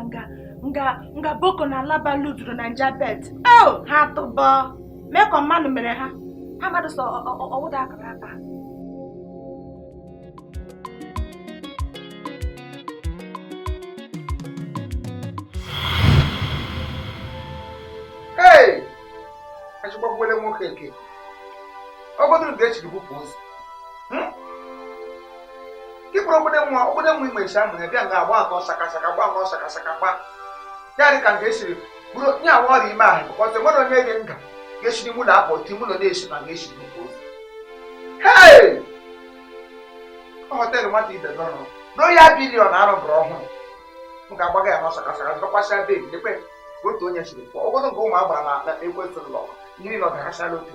nga nga nga boko na alaba luduru na nja bet oh ha tụbọ mee ka mmanụ mere ha ha mmadụ sọ ọwụda akara aka Hey! Achịkwakwele nwoke nke ọ bụrụ na esiri bupụ ozu ịkpụrụ obodo nwa obodo nwa igbe esi amụ ya bịa nga agba anọ sakasaka gba anọ sakasaka gba ya dị ka nga esiri buru onye awa ọrịa ime ahụ bụkọta nwere onye gị nga ga-esiri mụ na apụ ti mụ na na-esi nga esiri bupụ ozu hei họteelụ nwata ibe nọrọ na royal billion arụbụrụ ọhụrụ m ga-agbaga ya n'ọsọ kasara zụkwasịa bed debe otu onye siri pụọ obodo nke ụmụ agbara na ekwesịrị ụlọ mmiri nọ garasịala otu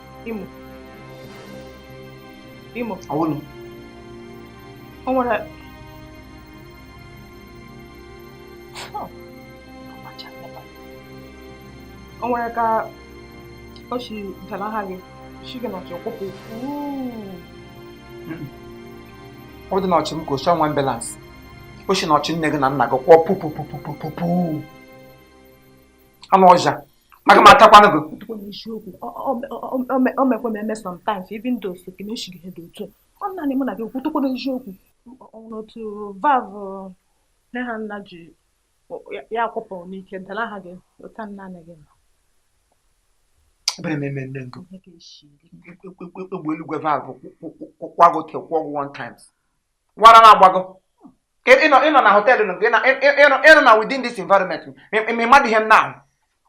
Imo. Imo. Awonu. O nwere o nwere ka o si dara ha gị si gị n'ọchị kwụpụ ọ dị n'ọchị m ka osi ọnwa balance o si n'ọchị nne gị na nna gị kwụọ pupupupupupu anụ ọhịa maka m atakwana gị eziokwu o mekwe m eme sometimes even though so kene eshighi he dị otu ọ naanị mụ na gị kwutụkwara eziokwu n'otu valve nne ha nna ji ya kwụpụ n'ike dara ha gị ụta nna nna gị ebere m eme nne ngụ egbe eluigwe valve kwụkwagụ te kwụọ ọgwụ one times wara na-agbago Ka ị- ịnọ ịnọ na họteelụ nụ, ịnọ ịnọ ịnọ na within this environment ma ịmadị ihe m na-ahụ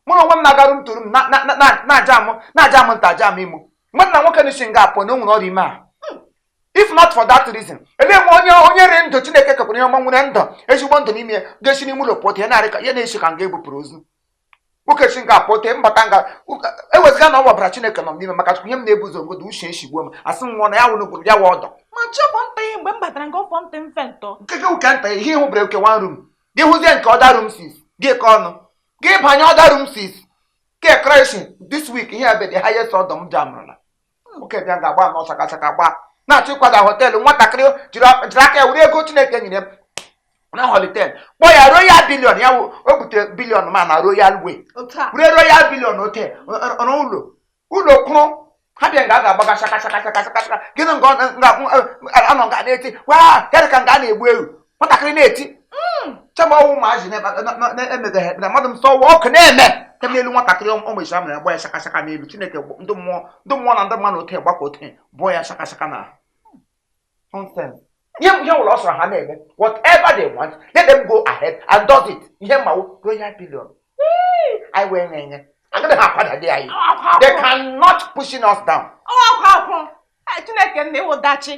mụ na onwe m na-agaru m tụrụ m na- na- na- na- na-aja amụ na-aja amụ nta aja amụ imo mmadụ na nwoke na-esi nga a pụ na o nwere ọrịa ime a if not for that reason ele nwe onye onye rị ndụ chineke kekwara ihe ọma nwere ndụ ezigbo ndụ n'ime ya ga-esi n'ime ụlọ pụta ya na-arị ka ya na-esi ka nga ebupụrụ ozu nwoke si nga a pụta mbata nga ewezụga na ọ wabara chineke nọ n'ime maka ihe m na-ebu ụzọ ngodo ishi eshigbuo m asị m nwụọ na ya wụrụ gwụrụ ya wụ odour ma chọpụ nta ihe mgbe m batara nga ọfọ ntị mfe ntọ nke gị ụka nta ihe ịhụbere oke one room gị hụzie nke other rooms gị ka ọnụ gị banye other room since creation this week ihe ebe the highest odour m ji anụrụla nwoke bịa nga agba anọ chaka chaka gba na-achọ ịkwada họteelụ nwatakịrị jiri aka ya were ego Chineke nyere m na hotel kpọọ ya royal billion ya o bute billion ma na royal way were royal billion hotel rụ ụlọ ụlọ kwụrụ ha bịa nga a ga-agbaga chaka chaka chaka chaka chaka gịnị nga anọ nga na-eti waa ya dị ka nga a na-egbu ewu nwatakịrị na-eti hmm. chama ọnwụ ụmụazị na-emebeghị ekpere mmadụ m sọwa ọkụ na-eme nke n'elu nwatakịrị ụmụ isi amụrụ agba ya shakashaka n'elu chineke ndị mmụọ ndị mmụọ na ndị mmadụ oke gbakọ oke bụọ ya shakashaka na ihe ihe ọwụla sọrọ ha na-eme whatever they want let them go ahead and does it ihe m ma wụ royal billion anyị wee nye nye agaghị ha akwadali anyị they cannot pushing us down chineke nna ị wụ dachi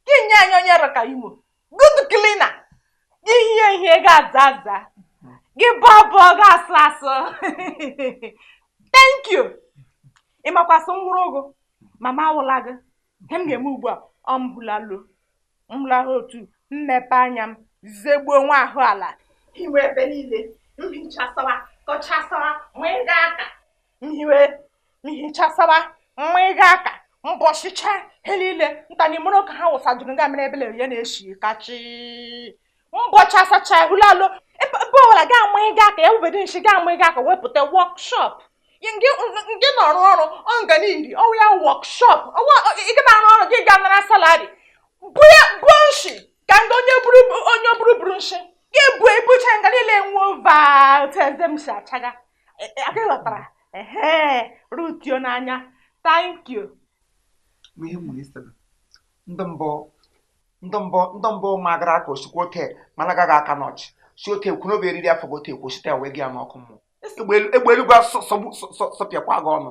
gị nye anyị onye rọka imo good cleaner ga-ehi ehi ga-aza aza ga-abọ abọ ga-asụ asụ thank you ị makwa sị m wụrụ ụgụ mama awụla gị ihe m ga-eme ugbu a ọ m hụlalụ m hụlahụ otu m mepee anya m zegbuo nwa ahụ ala hiwe ebe niile m hichasawa kọchasawa m mịga aka m hiwe m hichasawa m mịga aka m bọchịcha ihe niile nta na imo rọ ka ha wụsadụrụ nga mere ebele ya na-eshi kachi m bọchasacha ehulalo ebe ọbụla aga m amịga aka ya wụ ebe dị nshi aga m amịga aka wepụta workshop gị nọ arụ ọrụ ọnganidi ọ wụ ya workshop ị ga na-arụ ọrụ gị ga-anara salary bụ ya bụ nshi ka ndị onye buru onye buru buru nshi ga-ebu ebucha nga niile nwuo vatezem si achaga aka ghọtara ee rutio n'anya thank you ihe nwere isi ndị mbụ ndị mbụ ndị mbụ magara aka osikwa ote mana agaghị aka n'ọchị si ote kwuru obi eriri afọ gote ekwu site wee gị ya n'ọkụ mmụọ egbe eluigwe sọpịakwa gị ọnụ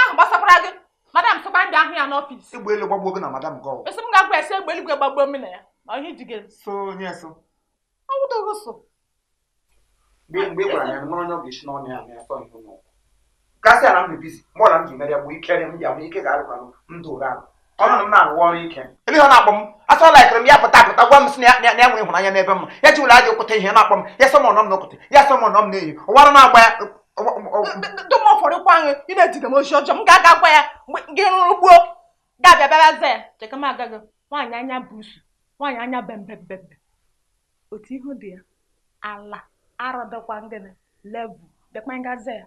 ahụ gbasakwara gị madam sọkwa m bịa hụ ya n'ọfịs egbe elu gbagbuo gị na madam gị ọgwụ ị sị m gaa gwa ya sị egbe eluigwe gbagbuo m na ya na ihe ji gị so onye so ọ wụdị gị so mgbe mgbe gwara ya mara onye ọ ga-esi n'ọnụ ya na ya sọ ihe n'ụkwụ gaa sị ya na m dị busy mụ na m ji mere ya bụ ike m ya bụ ike ga-arụkwanụ ndụ ụra ahụ Ọnụ m na-arụ ọrụ ike. Ebe ihe ọ na-akpọ m a sọ ọ laịkịrị m ya pụta apụta gwa m sị na ya- na ya na ya nwere ịhụnanya n'ebe m nọ. ya ejila aja okwute ihe na-akpọ m ya sọ m ọ nọ m n'okwute ya sọ m ọ nọ m n'ehi ụwara na-agba ya ọ- ọ- ọ- dum ụfọdụkwa anyị ị na-eziga m ozi ọjọọ m ga-aga gwa ya mgbe gị rụrụ gbuo ga-abịa bịara za ya cheka m agaghị nwaanyị anya bụ usu nwaanyị anya bembembembe otu ihu dị ya ala arọdọkwa ngịnị level dekwa ngaza ya